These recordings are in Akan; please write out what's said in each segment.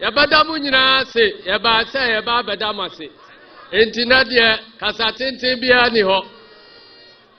Yɛbɛda mo nyinaa ase. Yɛbaa sɛ yɛba abɛda mo ase. Enti na deɛ kasa tenten biara ni hɔ.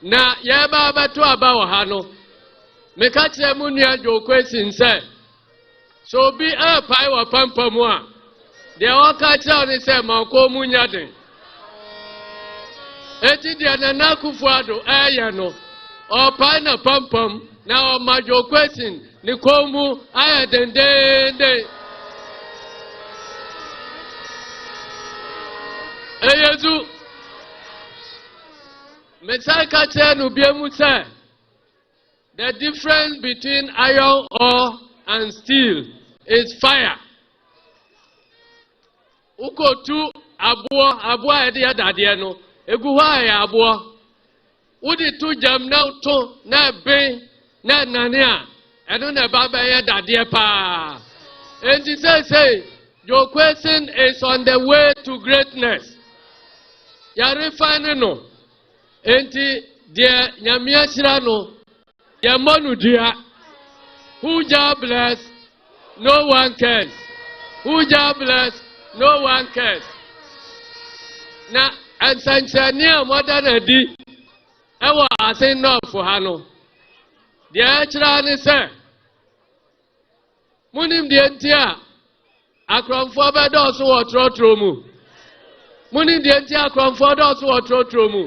Na yɛreba abɛto aba wɔ ha no, meka kyerɛ mo nua Joe Kwesin sɛ, sɛ obi ɛrepae wɔ pampa mu a, deɛ ɔka kyerɛ wo ne sɛ ma ɔkɔn mu nyɛ den. Enti deɛ Nana Akufo-Addo ɛɛyɛ no, ɔɔpae n'apampam na ɔma Joe Quaison ne kɔn mu ayɛ dendeenden. Ɛyɛ zu. Mesan ka kyerɛ no bie mu sɛ, the difference between iron ore and steel is fire. Wokotu aboɔ, aboɔ a yɛde yɛ dadeɛ no, egu hɔ a ɛyɛ aboɔ. Wode to gyam na to na ɛben na ɛnane a, ɛno na ɛba bɛyɛ dadeɛ paa. Enti seesei, Joe Quason is on the way to greatness. Yɛrefane no. Enti deɛ Nyame ahyira no, Yɛ mmɔ no dua. Who Jah bless, no one cares. Who Jah bless, no one cares. Na nsɛnkyerɛnne a wɔada no adi wɔ asen nɔɔfo ha no, deɛ ɛkyerɛ ne sɛ Monim deɛ nti a akorɔmfoɔ bɛdɔɔso wɔ trɔtrɔ mu? Monim deɛ nti a akorɔmfoɔ dɔɔso wɔ trɔtrɔ mu?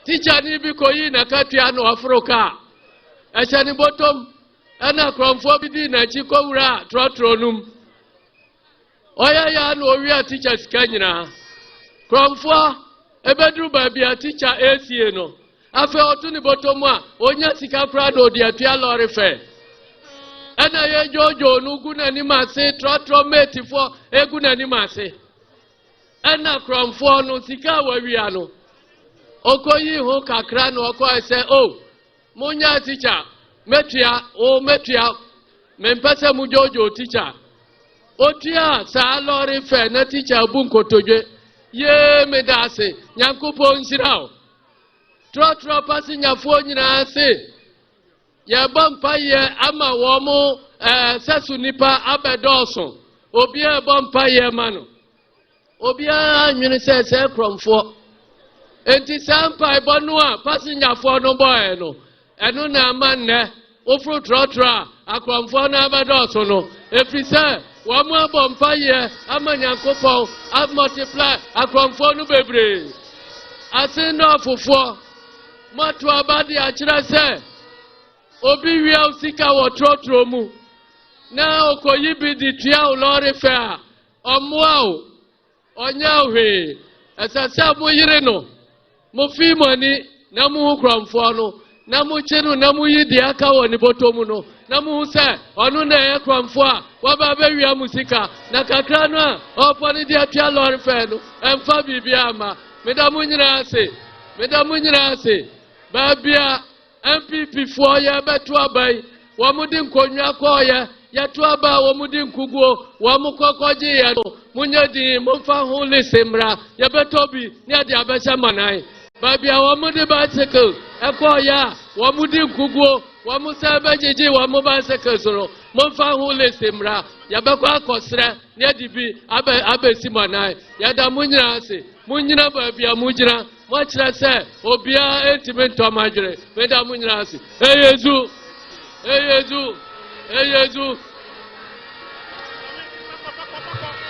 Tikyani bi kɔyii n'akatua na ɔforo kaa. Ɛhyɛ ne bɔtɔm ɛna akorɔmfoɔ bi dii n'akyi kɔwuraa trɔtrɔ no mu. Ɔyɛ yɛ a na ɔwia tikya sika nyinaa. Korɔmfoɔ, ɛbɛduru baabi a tikya ɛresie no, afei ɔto ne bɔtɔ mu a, ɔnya sika koraa na ɔde apia lɔre fɛɛ. Ɛna yɛ dwoodwoo no gu n'anim ase, trɔtrɔ meetifoɔ ɛgu n'anim ase. Ɛna korɔmfoɔ no, sika a wawia no, ɔkɔyi ho kakra na ɔkɔɛ sɛ, o, oh, Monyɛ teacher mɛtua o mɛtua mempɛ sɛ mo dwoodwoo teacher otua saa lɔre fɛ na teacher abu nkotodwe yee meda ase nyankopɔn nhyira o trɔtrɔ pase nyafoɔ nyinaa se yɛbɔ mpa yɛ ama wɔn mo ɛɛ sɛso nipa abɛdɔɔso obiara ɛbɔ mpa yɛ ma no. Obiara nnwene sɛ sɛɛ korɔmfoɔ. Enti saa mpaebɔ no a pasengyafoɔ no bɔɔɛ no, ɛno na ɛma nnɛ woforo trɔtrɔ a akorɔmfoɔ no abɛdɔɔso no, ɛfiri sɛ wɔn abɔ mpayeɛ ama Nyankopɔn amultiply akorɔmfoɔ no bebree. Asendɔɔfofoɔ, moato aba de akyerɛ sɛ obi wia wo sika wɔ trɔtrɔ mu na ɔkɔyi bi de tua wo lɔɔre fɛ a, Ɔmmoa wo, ɔnyɛ wo hwee. Ɛsɛ sɛ moyere no, mofi mo ani na muhu korɔmfoɔ no, na mokye no na moyi deɛ aka wɔ ne bɔtɔ mu no, na mohu sɛ ɔno na ɛyɛ korɔmfoɔ a waba abɛwia mo sika, na kakra no a ɔrepɔ no de atua lɔre fɛɛ no, ɛmfa biribiara mma. Meda mo nyinaa ase, meda mo nyinaa ase, baabia. NPP foɔ yɛ bɛ to aba yi wɔn de nkonnwa kɔɔ yɛ yɛ to aba a wɔn de nkuguo wɔn kɔ kɔ gye yɛ no mo nyɛ din mo nfa ho lese mmra yɛ bɛ tɔ bi ne yɛ de abɛhyɛ manan baabi a wɔn de bicycle ɛkɔɔ yɛ a wɔn de nkuguo wɔn sɛ bɛ gyegye wɔn bicycle so no mo nfa ho lese mmra yɛ bɛ kɔ akɔsrɛ ne yɛ de bi abɛ abɛsi manan yɛ da mo nyinaa ase mo nyina baabi a mo gyina. Moakyerɛ sɛ obiara ntumi ntɔ mo adwene. Meda mo nyinaa ase. Eyezu! Eyezu! Eyezu!